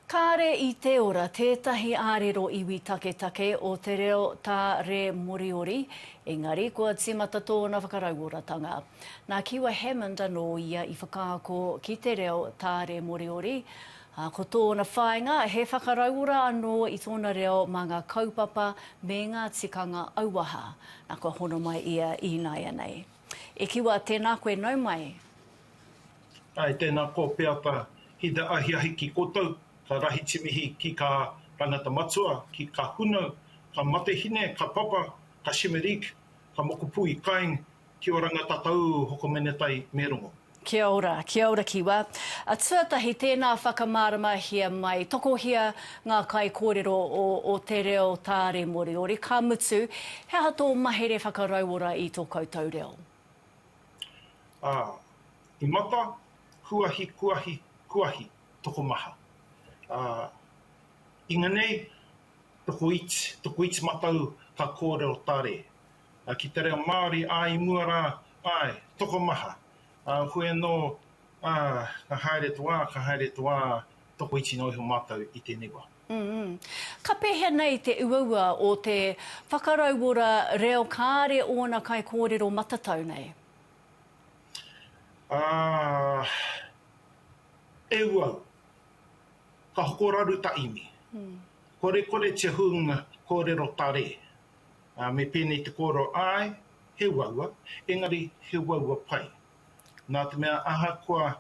Kāre i te ora tētahi ārero iwi taketake o te reo Tā Re Moriori, engari kua tīmata tōna whakarauoratanga. Nā Kiwa Hammond anō ia i whakaako ki te reo Tā Re Moriori, ā, ko tōna whāinga he whakarauora anō i tōna reo mā ngā kaupapa me ngā tikanga auaha. Nā, kua hono mai ia ināianei. E Kiwa, tēnā koe, nau mai. Ae tena ko Peata ki te ahiahi ki kotou ka rahi timihi ki ka tangata matua ki ka hunau ka matehine ka papa ka Shimerik ka mokopui kaing ki oranga tatau hokomenetai me rongo. Kia ora, kia ora kiwa. A tuatahi tēnā whakamāramahia mai, tokohia ngā kaikōrero o o te reo Tāre Moriori, ka mutu, he aha tō mahere whakarauora i tō koutou reo? Ā, i mata, kuahi, kuahi, kuahi, tokomaha. Ā, inganei, tokoiti, tokoiti matau ka kōrero tare. Ā, ki te reo Māori, ā, i mua rā, āe, tokomaha. Ā, koe anō, ā, ka haere tō ā, ka haere tō ā, tokoiti noa iho mātou i tēnei wā. Umm. Ka pehea nei te uaua o te whakarauora reo kāre ōna kaikōrero matatau nei? Aah. E uau. Ka hoko raru ta imi. Korekore te hunga kōrero tare. Me pēnei te kōrero, āe, he uaua, engari he uaua pai. Nā te mea ahakoa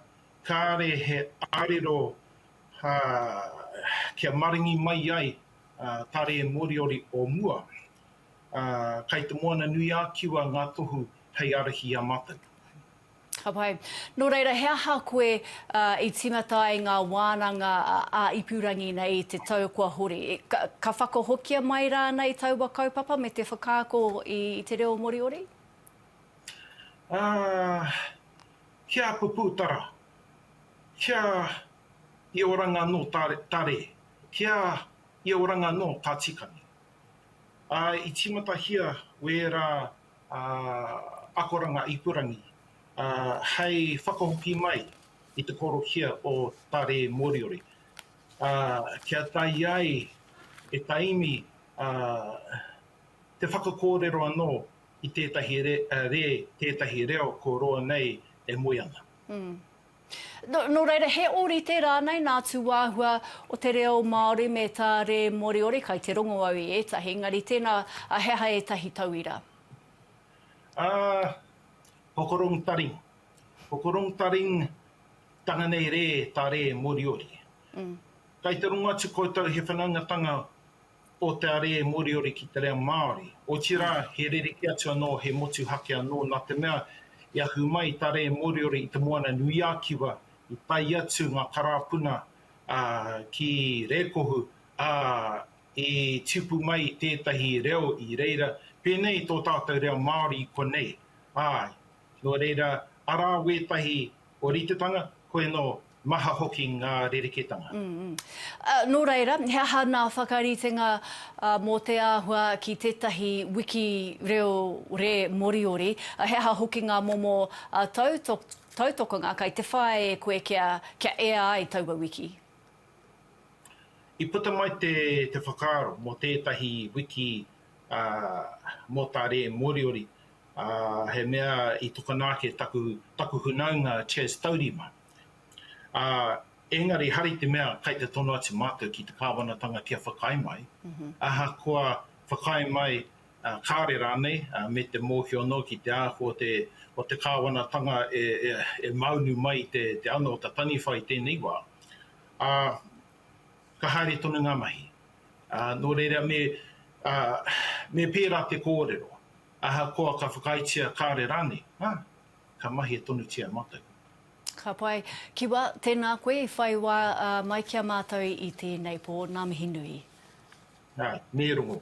kāre he ārero kia maringi mai ai tā rē Moriori o mua, kai te Moana nui a Kiwa ngā tohu hei arahi i a mātou. Ka pai. Nō reira, he aha koe i timata ai ngā wānanga a ipurangi nei i te tau kua hori? Ka whakahokia mai rānei taua kaupapa me te whakaako i te reo Moriori? Ā, Kia Puputara, kia I oranga no Tare, kia I oranga no Tatikani. A i timatahia wēra akoranga ipurangi hei whakahoki mai i te korokia o Tare Moriori, kia tae ai e Taimi te whakakōrero anō i tētahi rē, tētahi reo ko roa nei e moe ana. Nō reira, he ōrite rānei nā tūāhua o te reo Māori me tā rē Moriori, kai te rongo au i ētahi, engari tēnā, he aha ētahi tauira? Hokorong taring. Hokorong taring tana nei rē, tā rē Moriori. Kai te rongo atu koutou he whanaungatanga o te are e Moriori ki te reo Māori. Otirā, he rerekē atu anō, he motuhake anō, nā te mea, i ahu mai tā rē Moriori i Te Moana-nui-a-Kiwa, i tae atu ngā karāpuna ki Rēkohu, ā, i tipu mai tētahi reo i reira, pēnei i tō tātou reo Māori i konei. Āe, nō reira, arā wētahi ōritetanga, koinō Maha hoki ngā rerekētanga. Nō reira, he aha nā whakaritenga mō te āhua ki tētahi wiki reo rē Moriori? He aha hoki ngā momo tautokanga kai te whāia e koe kia ea ai taua wiki? I puta mai te whakaaro mō tētahi wiki mō tā rē Moriori, he mea i tokona ake taku hunaunga Chas Taurima. Ā, engari hari te mea kai te tono atu mātou ki te Kāwanatanga kia whakaae mai, ahakoa whakaae mai kāore rānei, me te mōhio anō ki te āhua o te o te Kāwanatanga e maunu mai te ano o ta Taniwha i tēnei wā, ā, ka haere tonu ngā mahi. Ā, nō reira me, ā, me pērā te kōrero, ahakoa ka whakaaetia kāore rānei, ā. ka mahia tonutia matou. Ka pai. Kiwa, tēnā koe i whai wā mai ki a mātou i tēnei pō. Ngā mihi nui. Ā, me rongo.